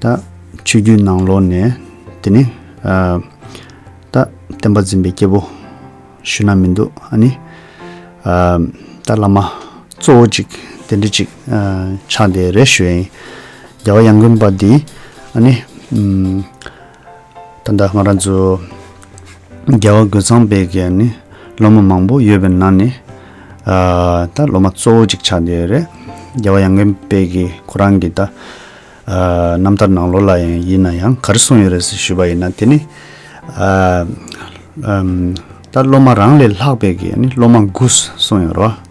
ད། ཆོས་བརྒྱུད་ནང་ལོག་ནས། དེ་ནི། ད། བསྟན་པ་འཛིན་པའི་སྐྱེ་བོ། ཞུ་ན་མི་འདུག་ཨ་ནི། ད་བླ་མ། གཙོ་བོ་ཅིག་དེ་འདྲི་ཅིག། ཕྱག་དེ་རེ་ཞུ་ཨེ། རྒྱལ་བ་ཡང་མགོན་པ་འདི། ཨ་ནི། ད་ལྟ་ང་རང་ཚོ་རྒྱལ་བ་རྒོད་ཚང་པའི་གན་ནི་སློབ་མ་མང་པོ་ཡོད་པའི་ནང་ནས་ད་སློབ་མ་གཙོ་བོ་ཅིག་ཆགས་བསྡད་ཡོད་རེད། རྒྱལ་བ་ཡང་རྒན་པའི་གི་ཁོ་རང་གི་ད་རྣམ་ཐར་ནང་ལོ་ལ་ཡང་ཡིན་ན་ཡང་ག་རེ་གསུངས་ཡོད་རེད་ཟེར་ཞུས་པ་ཡིན་ན་དེ་ནི་ད་སློབ་མ་རང་ལས་ལྷག་པའི་གི་ནི་སློབ་མ་དགུ་གསུངས་ཡོད་རེད།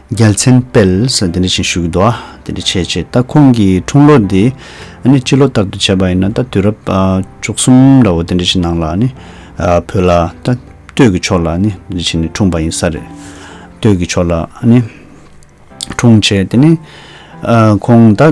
རྒྱལ་མཚན་དཔལ། འདི་འདྲ་བཞིན་ཞུ་གི་འདུག་ཨ། འདི་འདྲ་བྱས་བྱས་ད་ཁོང་གི་འཁྲུངས་ལོ་འདི། ཨ་ནི་སྤྱི་ལོ་ལྟར་དུ་བྱས་པ་ཡིན་ན་ད་དུས་རབས། བཅུ་གསུམ་འདྲ་བོ་འདི་འདྲ་བཞིན་ནང་ལ་ཨ་ནི། བོད་ལ་ད་སྟོད་ཀྱི་ཕྱོགས་ལ་ཨ་ནི་འདི་འདྲ་བྱས་ནས་འཁྲུངས་པ་ཡིན་ས་རེད། སྟོད་ཀྱི་ཕྱོགས་ལ་ཨ་ནི། འཁྲུངས་བྱས་དེ་ནས། ཁོང་ད།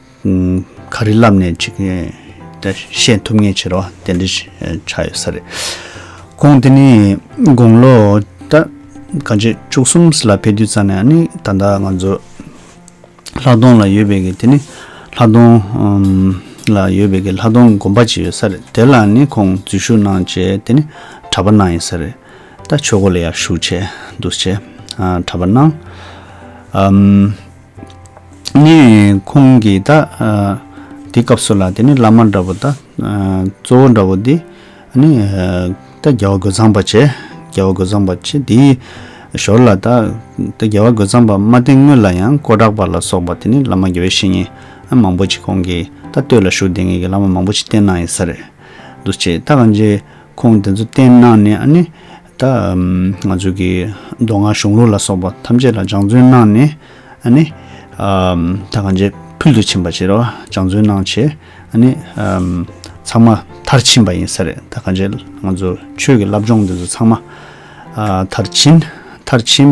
ག་རེ་ལབ་ནས་ཅིག་བཤད་ཐུབ་ངེས་ཆེ་རོགས་དེ་འདྲ་ཆགས་ཡོད་ས་རེད། དགོངས་དེ་ནི་དགོངས་ལོ་ད་ག་ཇེ་བཅུ་གསུམ་ལ་ཕེབས་དུས་ཙམ་ནས་ནི་ད་ལྟ་ང་ཚོ་ལྷ་སྡོང་ལ་ཡོད་པའི་གི་དེ་ནི་ལྷ་སྡོང་ལ་ཡོད་པའི་གི་ལྷ་སྡོང་དགོན་པ་ཅིག་ཡོད་ས་རེད་དེ་ལ་ནི་ཁོང་འཛུལ་ཞུགས་གནང་རྗེས་དེ་ནི་གྲྭ་པ་གནང་ཡིན་ས་རེད་ད་ཆོས་སྒོ་ལ་ཡར་ཞུགས་བྱས་འདུག་བྱས་གྲྭ་པ་གནང། ནས། ཁོང་གིས་ད། དེའི་སྐབས་སུ་ལ་དེ་ནི་བླ་མ་འདྲ་བོ་ད། གཙོ་བོ་འདྲ་བོ་འདི། ནི། ད་རྒྱལ་བ་རྒོད་ཚང་པ་བྱེད། རྒྱལ་བ་རྒོད་ཚང་པ་བྱེད་དེའི། ཞོར་ལ་ད། ད་རྒྱལ་བ་རྒོད་ཚང་པ་མ་བསྟེན་སྔོན་ལ་ཡང་ཀོ་བྲག་པ་ལ་སོགས་པ་དེ་ནི་བླ་མ་དགེ་བའི་བཤེས་གཉེན། མང་པོ་ཅིག་ཁོང་གིས་ད་སྟོད་ལ་བཞུགས་དེ་ངེད་ཀྱི་བླ་མ་མང་པོ་ཅིག་བསྟེན་གནང་ཡིན་ས་རེད། འདུ་བྱེད་ད་གང་ཅིའི་ཁོང་དེ་ཚོ་བསྟེན་གནང་ནས་ཨ་ནི། ད་ང་ཚོས་ཀྱི་མདོ་སྔགས་གཞུང་ལུགས་ལ་སོགས་པ་ཐམས་ཅད་ལ་སྦྱང་བརྩོན་གནང་ནས་ནི། ད་གང་ཅི་ཕུལ་དུ་ཕྱིན་པ་བྱེད་རོགས་སྦྱང་བརྩོན་གནང་བྱས་ནི། ཚང་མ་མཐར་ཕྱིན་པ་ཡིན་ས་རེད་ད་གང་ཅི་ང་ཚོ་ཆོས་ཀྱི་བསླབ་སྦྱོང་འདི་ཚོ་ཚང་མ་མཐར་ཕྱིན་མཐར་ཕྱིན།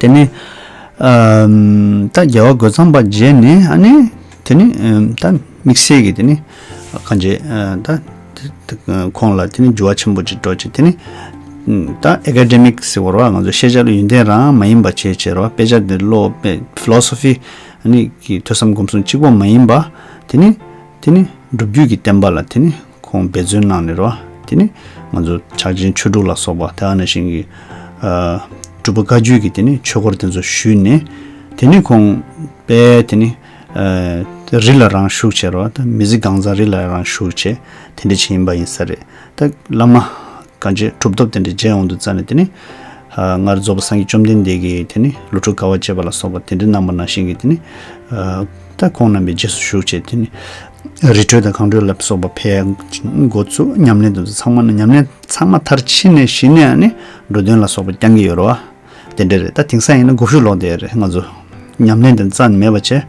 དེ་ནས། ད་རྒྱལ་བ་རྒོད་ཚང་པ་མཇལ་ནས་ཨ་ནེ། དེ་ནི་ད་དམིགས་བསལ་གྱི་དེ་ནི་གང་བྱས་ད། ཁོང་ལ་དེ་ནི་འགྱུར་བ་ཆེན་པོ་ཅིག་འགྲོ་ཅིག་དེ་ནི། ད academic ཟེར་བར་བ་ང་ཚོ་ཤེས་བྱ་ལ་ཡོན་ཏན་རང་མ་ཡིན་པ་ཆེས་ཆེར་བ་དཔེ་ཆ་འདི་བློ་དཔེ philosophy ཨ་ནེ་ཀྱི་ཐོས་བསམ་སྒོམ་གསུམ་གཅིག་པོ་མ་ཡིན་པ། དེ་ནི། དེ་ནི་སྒྲུབ་བརྒྱུད་ཀྱི་བསྟན་པ་ལ་དེ་ནི་ཁོང་འབད་བརྩོན་གནང་ནས་རོ། དེ་ནི་ང་ཚོ་ཕྱག་ཆེན་ཆོས་དྲུག་ལ་སོགས་པ་དེ་ཨ་ན་ཞིང་གི་སྒྲུབ་པ་བཀའ་བརྒྱུད་ཀྱི་དེ་ནི་ཆོས་སྐོར་དེ་ཚོ་ཞུས་ནས། དེ་ནས་ཁོང་དཔལ་དེ་ནི་རི་ལ་རང་བཞུགས་བྱས་རོ། མི་ཟི་སྒང་ཚང་རི་ལ་རང་བཞུགས་བྱས་དེ་འདྲ་བྱས་ཡིན་པ་ཡིན་ས་རེད། ད་བླ་མ་ག་རྗེ་གྲུབ་ཐོབ་དེ་འདྲ་མཇལ་འོང་དུ་བཙལ་ནས་དེ་ནི། སྔར་རྫོགས་པ་སངས་རྒྱས་བཅོམ་ལྡན་འདས་ཀྱི་དེ་ནི་ལོ་དྲུག་དགའ་བ་བཅས་པ་ལ་སོགས་པ་དེ་འདྲ་གནང་བ་ན་ཞིང་གི་དེ་ནི། ད་ཁོང་རྣམ་པའི་རྗེས་སུ་ཞུགས་བྱས་དེ་ནི། རི་ཁྲོད་དང་གངས་ཁྲོད་ལ་སོགས་པ་ཕལ་འགོ་ཚུགས་ཉམས་ལེན་དུ་ཚང་མ་ནི་ཉམས་ལེན་ཚང་མ་མཐར་ཕྱིན་ནས་གཞི་ནས་ནི་འགྲོ་དོན་ལ་སོགས་པ་རྐྱང་གི་ཡོད་རོ། དེ་འདྲ་རེད་ད་དེང་སང་ཡིན་ན་དགུ་བཞུགས་ལོག་འདས་རེད་ང་ཚོ་ཉམས་ལེན་དེ་རྩ་ནས་མེད་པ་བྱས།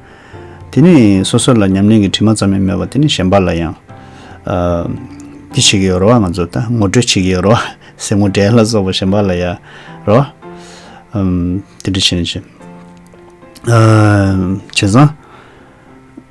དེ་ནི་སོ་སོ་ལ་ཉམས་ལེན་གྱི་དྲི་མ་ཙམ་ཡང་མེད་པ་དེ་ནི་གཞན་པ་ལ་ཡང། འདི་བྱེད་ཀྱི་ཡོད་རོ་ང་ཚོ་ད་ངོ་སྤྲོད་བྱེད་ཀྱི་ཡོད་རོ། ཟས་ངོ་དགྲའི་ལ་སོགས་པ་གཞན་པ་ལ་ཡང་རོ། དེ་འདྲ་བྱས་ནས་བྱས། བྱས་ཙང།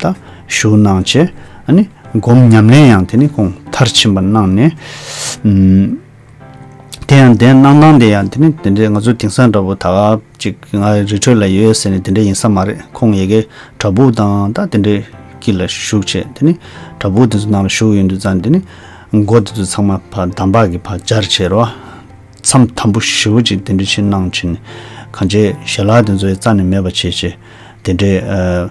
ད་ཞུ་གནང་བྱས། ནི་སྒོམ་ཉམས་ལེན་ཡང་དེ་ནི་ཁོང་མཐར་ཕྱིན་པར་གནང་ནས། དེ་ཡང་དེ་གནང་སྟངས་དེ་ཡང་དེ་ནི་དེ་འདྲའི་ང་ཚོ་དེང་སང་འདྲ་བོ་ད་ཅིག་ང་རི་ཁྲོད་ལ་ཡོད་ཟེར་ནས་དེ་འདྲ་ཡིན་ས་མ་རེད་ཁོང་ཡེ་གེ་གྲྭ་ཕུག་དང་ད་དེ་འདྲའི་ཀི་ལ་བཞུགས་བྱས་དེ་ནི་གྲྭ་ཕུག་དེ་ཚོ་ནང་ལ་བཞུགས་ཡོད་འདུག་ཙང་དེ་ནི་སྒོ་དེ་ཚོ་ཚང་མ་བ་དམ་པག་གི་བ་སྦྱར་བྱས་རོ། མཚམས་དམ་པོ་ཞི་བོ་ཅིག་དེ་འདྲ་ཕྱིར་གནང་བྱས་ནས་གང་བྱས་ཞལ་ལག་དེ་ཚོ་ཡི་རྩ་ནས་མེད་པ་བྱས་བྱས་དེ་འདྲའི།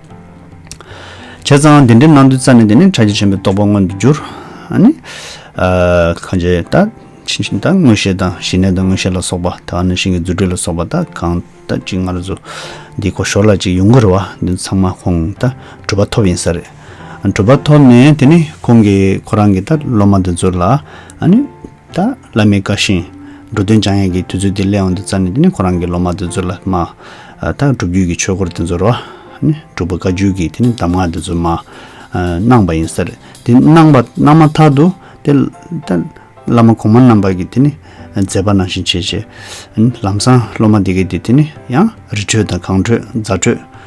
བྱས་ཙང་དེ་འདྲའི་སྣང་དུས་རྩ་ནས་དེ་ནི་ཕྲ་རྒྱས་ཆེན་པོའི་རྟོག་པ་མངོན་དུ་འགྱུར། གང་བྱས་ད། མངོན་ཤེས་དང་ཞི་གནས་དང་མངོན་ཤེས་ལ་སོགས་པ་དག་ནི་ཤིང་གི་རྫུ་འཕྲུལ་ལ་སོགས་པ་དག་གང་ལྟ་ཅི་སྔར་བཟོ། འདིའི་གོ་ཞོར་ལ་ཅིག་ཡུངས་ཀར་བ་འདི་ཚང་མ་ཁོང་ད་གྲུབ་པ་ཐོབ་ཡིན་ས་རེད། གྲུབ་པ་ཐོབ་ནས་དེ་ནི་ཁོང་གིས་ཁོ་རང་གི་ད་སློབ་མ་འདི་ཚོ་ལ། ད་ལ་མི་དགའ་ཞིང། འགྲོ་དོན་སྦྱང་ཡས་ཀྱི་དུས་ཚོད་དེ་སླེ་འོང་དུ་བཙར་ནས་དེ་ནས་ཁོ་རང་གི་ལོ་མ་དེ་ཚོ་ལ་སྨྲ། ད་སྒྲུབ་བརྒྱུད་ཀྱི་ཆོས་སྐོར་དེ་ཚོ་རོ། སྒྲུབ་པ་བཀའ་བརྒྱུད་ཀྱི་དེ་ནི་གདམས་ངག་དེ་ཚོ་སྨྲ། གནང་བ་ཡིན་ཟེར། དེ་གནང་བ་གནང་མ་ཐག་ཏུ། དེ། ད་བླ་མ་གོང་མ་རྣམས་པར་གྱི་དེ་ནི། མཛད་པ་ནང་བཞིན་བྱེད། ལམ་སང་སློབ་མ་དེ་གའི་དེ་དེ་ནི་ཡང། རི་ཁྲོད་དང་གངས་ཁྲོད་རྫ་ཁྲོད།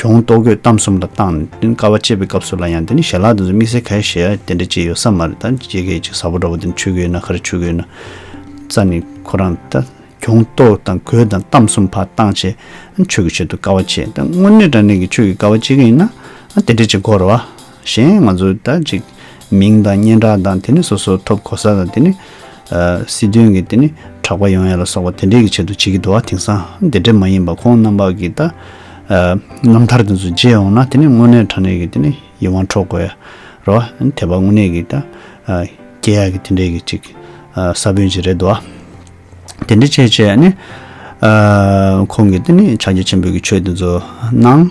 གྱོང་གཏོགས་གོས་གཏམ་གསུམ་ལ་བཏང་ནས་དེ་ནི་ཀ་བ་བཅད་པའི་སྐབས་སུ་ལ་ཡང་དེ་ནི་ཞལ་ལག་དེ་ཚོ་དམིགས་བསལ་ག་རེ་བྱས་ཡ་དེ་འདྲ་ཅི་ཡོད་ས་མ་རེད་ད་ཇི་སྐད་ཅིག་ཟ་བོ་འདྲ་བོ་དེ་ནི་ཆུ་གོས་ན་ཁ་རེ་ཆུ་གོས་ན་རྩ་ནི་ཁོ་རང་ད་གྱོང་གཏོགས་དང་གོས་དང་གཏམ་གསུམ་ཕར་བཏང་བྱས་ཡ་ཆོས་ཀྱི་ཆེད་དུ་ཀ་བ་བཅད་ད་དངོས་གནས་དྲང་གནས་ཀྱི་ཆོས་ཀྱི་ཀ་བ་བཅད་ཀྱི་ཡིན་ན་ཡ་དེ་འདྲ་ཅི་དགོས་རེད་བ། གཞན་ང་ཚོ་ད་ཅིག་མིང་དང་སྙན་གྲགས་དང་དེ་ནི་སོ་སོ་ཐོབ་གོ་ས་དང་དེ་ནི་སྲིད་དོན་གྱི་དེ་ནི་གྲགས་པ་ཡོང་ཡ་ལ་སོགས་པ་དེ་འདྲས་ཀྱི་ཆེད་དུ་བྱེད་ཀྱི་འདུག་ཨ་དེང་སང་དེ་འདྲས་མ་ཡིན་པ་ཁོང་རྣམ་པ་གྱི་ད་རྣམ་ཐར་དེ་ཚོ་བརྗེད་འོང་ན་དེ་ནི་དངོས་གནས་དྲ་གནས་ཀྱི་དེ་ནི་ཡིད་དབང་འཕྲོག་དགོས་ཡ་རོ་ཨ་དེ་བ་དངོས་གནས་ཀྱི་ད་སྐྱེ་ཡག་གི་དེ་འདྲས་ཀྱི་ཅིག་ས་བོན་ཅིག་རེད་འདུག་ཨ་དེ་འདྲས་བྱས་བྱས་ནས་ཁོང་གི་དེ་ནི་ཕྱག་རྒྱ་ཆེན་པོས་ཀྱི་ཆོས་དེ་ཚོ་གནང།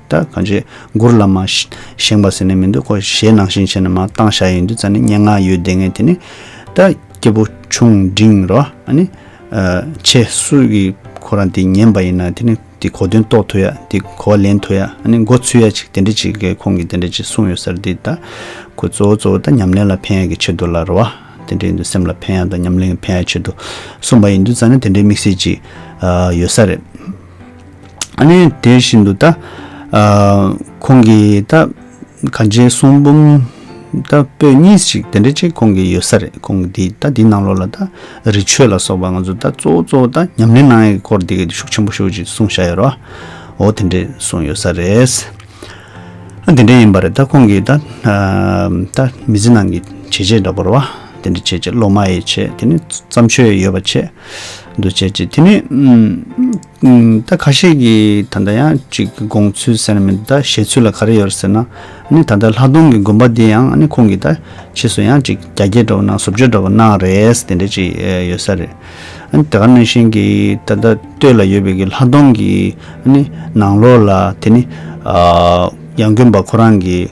ད་གང་ཅི་མགུར་ལ་མ། བཞེངས་པ་ཟེར་ནས་མི་འདུག་གོ་གཞས་ནང་བཞིན་བྱས་ན་མ་བཏང་བཞག་ཡིན་དུས་རྩ་ནི་སྙན་ངག་ཡོད་བདེ་ངས་དེ་ནི། ད་སྐྱེས་བུ་ཆུང་འབྲིང་རོ་ཨ་ནི། ཆེ་སུ་ཡི་ཁོ་རང་དེ་ཉན་པ་ཡིན་ན་དེ་ནི་དེ་གོ་དོན་རྟོགས་ཐུབ་ཡ་དེ་གོ་བ་ལེན་ཐུབ་ཡ་ཨ་ནི་འགོ་ཚུད་ཡ་ཅིག་དེ་འདྲི་ཅིག་གེ་ཁོང་གིས་དེ་འདྲ་ཅིག་གསུངས་ཡོད་སར་དེ་ད་ཁོས་གཙོ་བོ་གཙོ་བོ་ད་ཉམས་ལེན་ལ་ཕན་ཡ་གི་ཆེད་དུ་ལ་རོ་ཨ་དེ་འདྲ་ཡིན་དུས་སེམས་ལ་ཕན་ཡ་དང་ཉམས་ལེན་གི་ཕན་ཡ་ཆེད་དུ་གསུངས་པ་ཡིན་དུས་རྩ་ནི་དེ་འདྲའི་དམིགས་བསལ་ཅིག་ཡོད་ས་རེད། ཨ་ནེ་དེ་བཞིན་དུ་ད་ཁོང་གི་ད་ག་འཇའི་གསུང་འབུམ་ད་པོད་གཉིས་ཤིག་དེ་འདྲ་ཅིག་ཁོང་གི་ཡོད་ས་རེད་ཁོང་གི་ད་དེའི་ནང་ལོགས་ལ་ད་རི་ཆོས་ལ་སོགས་པ་ང་ཚོ་ད་གཙོ་བོ་གཙོ་བོ་ད་ཉམས་ལེན་གནང་ཡས་སྐོར་དེ་གས་དེ་ཤུགས་ཆེན་པོ་ཤོད་ཅིག་གསུང་བཞག་ཡོད་རོ་འོ་དེ་འདྲས་གསུང་ཡོད་ས་རེད། ཨ་དེ་འདྲས་ཡིན་པ་རེད་ད་ཁོང་གི་ད་ད་མི་ཚེ་ནང་གི་བྱས་རྗེས་འདྲ་པོ་རོ་བ་དེ་འདྲ་བྱས་རྗེས་སློབ་མ་ཡས་བྱས་དེ་ནས་བརྩམས་ཆོས་ཡོད་པ་བྱས། འདུ་བྱེད་ཅིག་དེ་ནི། ད་ཁ་ཤས་ཀྱི་ད་ལྟ་ཡང་གཅིག་དགོངས་ཚུལ་ཟེར་ན་མི་འདུག་ད་བཞེད་ཚུལ་ལ་ག་རེ་ཡོད་ཟེར་ན། ནི་ད་ལྟ་ལྷ་སྡོང་གི་དགོན་པ་འདི་ཡང་ནི་ཁོང་གིས་ད་ཕྱིས་སུ་ཡང་གཅིག་རྒྱ་སྐྱེད་འགྲོ་བ་གནང་ཟུར་བརྗོད་འགྲོ་བ་གནང་རེས་དེ་འདྲ་ཅིག་ཡོད་ས་རེད། དེ་ག་ནང་བཞིན་གྱི་ད་ལྟ་སྟོད་ལ་ཡོད་པའི་གི་ལྷ་སྡོང་གི་ནི་ནང་ལོགས་ལ་དེ་ནི། ཡང་དགོན་པ་ཁོ་རང་གི།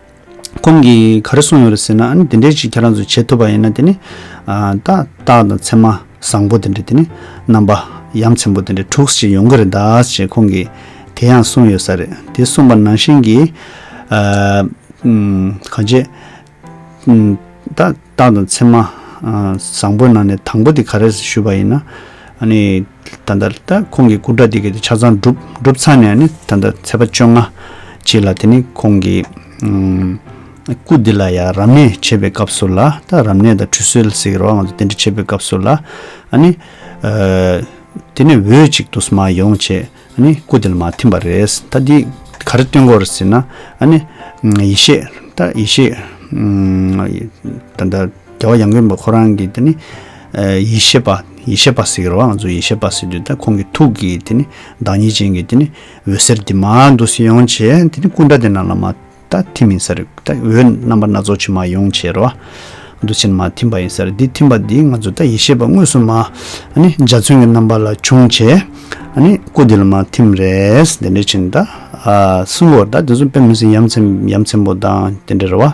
ཁོང་གིས་ག་རེ་གསུངས་ཡོད་རེད་ཟེར་ན་ཨ་ནི་འདི་འདྲའི་ཅིག་ཁྱེད་རང་ཚོས་བྱེད་ཐུབ་པ་ཡིན་ན་དེ་ནི། ཏག་ཏག་དང་མཚན་མ་བཟང་པོ་དེ་འདྲ་དེ་ནི་རྣམ་པ་ཡ་མཚན་པོ་དེ་འདྲ་དྲུག་ཅིག་ཡོང་གི་རེད་ད་ཅེས་ཁོང་གིས་དེ་ཡང་གསུངས་ཡོད་ས་རེད། དེ་གསུངས་པ་ནང་བཞིན་གྱིས། གང་ཅེས། ཏག། ཏང་དང་ཚད་མ། བཟང་པོའི་ནང་ནས་དང་པོ་དེ་ག་རེ་ཟེར་ཞུས་པ་ཡིན་ན། ད་ལྟ་ལྟ་ཁོང་གི་སྐུ་དྲག་དེ་གས་དེ་ཆ་ཚང་བསྒྲུབས་ཚར་ནས་ནི་ད་ལྟ་ཚེས་པ་བཅོ་ལྔ། གཅིག་ལ་དེ་ནི་ཁོང་གི། སྐུ་དེ་ལ་ཡང་རབ་གནས་བྱེད་པའི་སྐབས་སུ་ལ་ད་རབ་གནས་དང་ཁྲུས་གསོལ་ཟེར་གི་རོགས་ང་ཚོ་དེ་འདྲ་བྱེད་པའི་སྐབས་སུ་ལ། དེ་ནི་འོས་གཅིག་ཏུ་སྨྲ་ཡོང་བྱས། ཨཱ་ནི། སྐུ་དེ་ལ་མ་ཐིམ་པ་རེད། ད་འདི་ག་རེ་སྟོན་དགོས་ཟེར་ན། ཨཱ་ནི། ཡེ་ཤེས། ད་ཡེ་ཤེས། ད་ལྟ་རྒྱལ་བ་ཡངས་ཀུན་པ་ཁོ་རང་གིས་དེ་ནི། ཡེ་ཤེས་པ། ཡེ་ཤེས་པ་ཟེར་གི་རེད་བ་ང་ཚོ་ཡེ་ཤེས་པ་ཟེར་དུས་ད་ཁོང་གི་ཐུགས་ཀྱི་དེ་ནི་བདག་ཉིད་ཅན་གྱི་དེ་ནི་འོད་ཟེར་འདི་མ་འདུག་སེམས་ཡོངས་བྱས་དེ་ནི་སྐུ་འདྲ་དེ་རྣམས་ལ་མ། ད་ཐིམ་ཡིན་སར་ད་འོད་རྣམ་པ་སྣ་ཚོགས་ཕྱི་མ་ཡོངས་བྱེད་རོ། འདུ་བྱེད་མ་ཐིམ་པ་ཡིན་སར་འདི་ཐིམ་པ་འདིས་ང་ཚོ་ད་ཡེ་ཤེས་པ་དངོས་སུ་མ། འཇའ་ཚོན་གྱི་རྣམ་པ་ལ་འབྱུང་བྱེད། སྐུ་འདི་ལ་མ་ཐིམ་རེས་དེ་འདྲ་བྱིན་ད། སྲིན་པོར་ད་དེ་ཚོ་དཔེ་མི་སྲིན་ཡམ་ཆེན་པོ་དང་དེ་འདྲ་རེ་བ།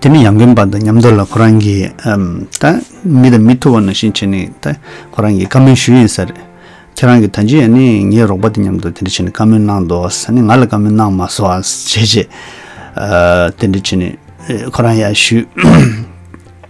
དེ་ནི་ཡང་དགོན་པ་དང་ཉམས་རྡོར་ལ་ཁོ་རང་གིས་ད་མི་དང་མི་ཐུག་བ་ནང་བཞིན་བྱས་ནས་ད་ཁོ་རང་གིས་བཀའ་མོལ་ཞུས་ཡིན་ས་རེད། ཁྱེད་རང་གིས་ད་ཅི་ཡང་ནི་ངའི་རོགས་པ་དེ་མཉམ་དུ་དེ་འདྲ་བྱས་ནས་བཀའ་མོལ་གནང་འདོགས་ང་ལ་བཀའ་མོལ་གནང་མ་སོང་བ་བྱས་རྗེས་དེ་འདྲ་བྱས་ནས་ཁོ་རང་ཡར་ཞུས།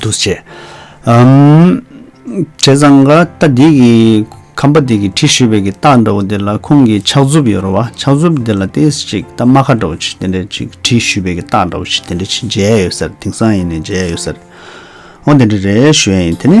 འདུ་བྱེད་འམ། བྱས་ཙང་ཀ་རྟ་འདི་གི། ཁམ་པ་འདི་གི་དྲི་ཞུ་བའི་གི་རྟགས་འདྲ་བོ་འདི་ལ་ཁོང་གི་ཕྱག་མཛུབ་ཡོད་རོ་བ་ཕྱག་མཛུབ་འདི་ལ་ཏི་ཅིག་རྟ་རྨ་ཁ་འདྲ་བོ་ཅིག་དེ་འདྲ་ཅིག་དྲི་ཞུ་བའི་གི་རྟགས་འདྲ་བོ་ཅིག་དེ་འདྲ་ཅིག་མཇལ་ཡས་ཡོད་ཟེར་དེང་སང་ཡིན་ནས་མཇལ་ཡས་ཡོད་ཟེར། ཨོ་དེ་འདྲ་རེད་ཞུ་ཡས་ཡིན་དེ་ནི།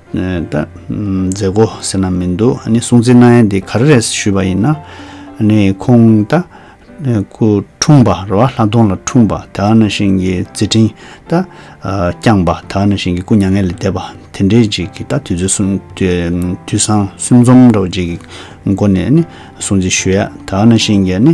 ད། མཛད་སྒོ་ཟེར་ན་མི་འདུག་ཨ་ནི་སྲུང་བརྩི་གནང་ཡས་འདི་ག་རེ་རེད་ཞུས་པ་ཡིན་ན། ཨ་ནི་ཁོང་ད། སྐུ་འཁྲུངས་པ་རེད་བ་ལྷ་སྡོང་ལ་འཁྲུངས་པ་ད་ཨ་ནི་ཤིང་གི་རྩི་སྤྲིན་ད། བསྐྱངས་པ་ད་ཨ་ནི་ཤིང་གི་སྐུ་མྱ་ངན་ལས་འདས་པ་དེ་འདྲའི་རྗེས་ཀྱི་ད་དུས་བཟང་སེམས་འཛོམས་འདྲ་བོ་རྗེས་ཀྱི་སྒོ་ནས་ཨ་ནི་སྲུང་བརྩི་ཞུ་ཡས་ད་ཨ་ནི་ཤིང་གི་ཨ་ནི།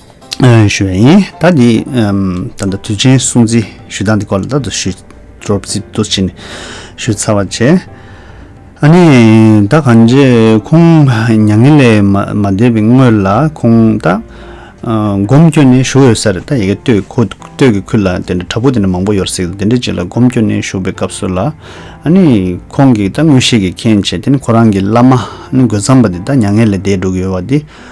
ཞུ་བ་ཡིན། ད་འདི། ད་ལྟ་དུས་ཆེན་སྲུང་བརྩི་ཞུ་སྟངས་འདི་སྐོར་ལ་ད་དུ་ཞུ། སྤྲོ་བརྩི་ཏུ་བྱེད་ནས་ཞུ་ཚར་བར་བྱས། ཨ་ནི། ད་གང་རྗེས་ཁོང་མྱ་ངན་ལས་མ་འདས་པའི་སྔོན་ལ་ཁོང་ད། སྒོམ་སྐྱོ་ནས་བཞུགས་ཡོད་ས་རེད་ད་ཡི་གེ་ལྟོས་ཁོ་ལྟོས་ཀྱི་ཁུལ་ལ་དེ་འདྲ་དྲ་འབུ་དེ་འདྲ་མང་པོ་ཡོད་རེད་ཟེར་གི་འདུག་དེ་འདྲའི་རྗེས་ལ་སྒོམ་སྐྱོ་ནས་བཞུགས་པའི་སྐབས་སུ་ལ། ཨ་ནི། ཁོང་གིས་ད་དངོས་ཤེས་ཀྱི་མཁྱེན་བྱས་དེ་ནི་ཁོ་རང་གི་བླ་མ། ཨ་ནི་རྒོད་ཚང་པ་དེ་ད་མྱ་ངན་ལས་འདས་འགྲོ་གི་ཡོད་བ་དེ།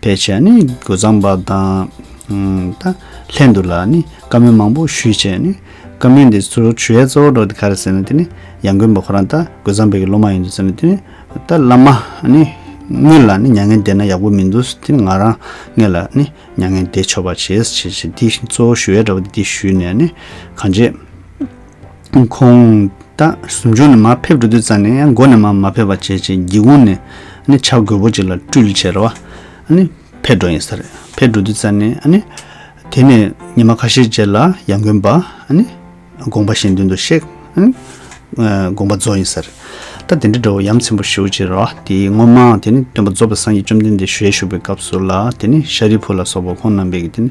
པའི་ཆ་ནས་སྒོ་བརྩམས་པ་དང། ད་ལྷན་དུ་ལ་ནི་བཀའ་མོལ་མང་པོ་ཞུས་བྱས་ནས། བཀའ་མོལ་འདི་ཚོ་ཆོས་གཙོ་བོ་འགྲོ་འདི་ག་རེད་ཟེར་ན་དེ་ནི་ཡང་དགོན་པ་ཁོ་རང་ད་སྒོ་བརྩམས་པའི་སློབ་མ་ཡིན་འདུག་ཟེར་ནས་དེ་ནི་ད་བླ་མ་ནི་དངོས་ལ་ནི་མྱ་ངན་འདས་ན་ཡག་པོ་མི་འདུག་ཟེར་དེ་ནི་ང་རང་ངེད་ལ་ནི་མྱ་ངན་འདས་ཆོག་པ་བྱེད་ཟེར་བྱས་བྱས་འདི་གཙོ་བོ་ཞུ་ཡ་འདྲ་བོ་འདི་ཞུས་ནས་ནི་གང་བྱས། ཁོང་ད་ཟུར་འཇོག་ནས་མར་ཕེབས་འགྲོ་དུས་རྩ་ནས་མགོ་ནས་མར་མ་ཕེབས་པ་བྱས་རྗེས་སྒེའུ་ཁུང་ནས་ནི་ཆ་རྒོད་པོ་ཅིག་ལ་སྤྲུལ་ཆས་ར་བ་ནི་ཕེབས་འགྲོ་ཡིན་ས་རེད་ཕེབས་འགྲོ་དུས་རྩ་ནས་ནི། དེ་ནས་ཉི་མ་ཁ་ཤས་རྗེས་ལ་ཡང་མགོན་པ་ནི་དགོངས་པ་གཞན་མདུན་དུ་གཤེགས་ནི་དགོངས་པ་རྫོགས་ཡིན་ས་རེད་ད་དེ་འདྲའི་འགྲོ་བ་ཡམ་ཆེན་པོ་ཞུ་ཅིག་ར་བ་དེ་སྔོན་མའང་དེ་ནི་སྟོན་པ་རྫོགས་པའི་སངས་རྒྱས་བཅོམ་ལྡན་འདས་ཞུ་ཡས་བཞུགས་པའི་སྐབས་སུ་ལ་དེ་ནི་ཤཱ་རིའི་བུ་ལ་སོགས་པ་ཁོང་རྣམ་པས་ཀྱི་དེ་ནི།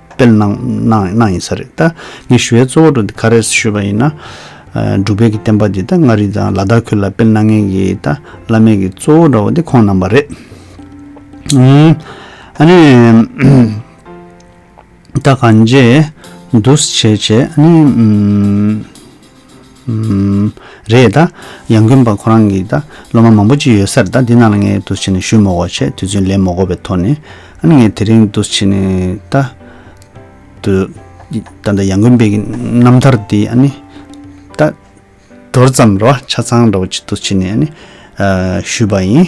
སྤེལ་གནང་ཡིན་ས་རེད་ད། ངས་ཞུ་བའི་གཙོ་བོ་ཀ་རེད་ཞུས་པ་ཡིན་ན། འབྲུག་བལ་གྱི་བསྟན་པ་འདི་ད་མངའ་རིས་དང་ལ་དྭགས་ཁུལ་ལ་སྤེལ་གནང་མཁན་གྱི་ད་བླ་མེད་ཀྱི་གཙོ་བོ་འདྲ་བོ་དེ་ཁོང་རྣམ་པ་རེད། ཨ་ནི། ད་གང་བྱས། འདུ་བྱས་བྱས་ཨ་ནི། རེད་ད། ཡང་རྒུན་པ་ཁོ་རང་གིས་ད། སློབ་མ་མང་པོ་ཅིག་ཡོད་སར་ད་འདི་རྣམས་ལ་ངས་འདུ་བྱེད་ནས་ཞུས་མོ་གོ་ཆེད་དུས་ཚོད་ལས་མོ་གོ་བའི་ཐོག་ནས། ཨ་ནི་ངས་དེ་རིང་འདུ་བྱེད་ནས་ད། དུ། ད་ད་ཡང་རྒུན་པའི་རྣམ་ཐར་འདི་ཨ་ནི། ད། འགྲོར་ཙམ་རེ་བ་ཆ་ཚང་རེ་བ་ཅིག་འདུ་བྱེད་ནས་ཨ་ནི། ཞུས་པ་ཡིན།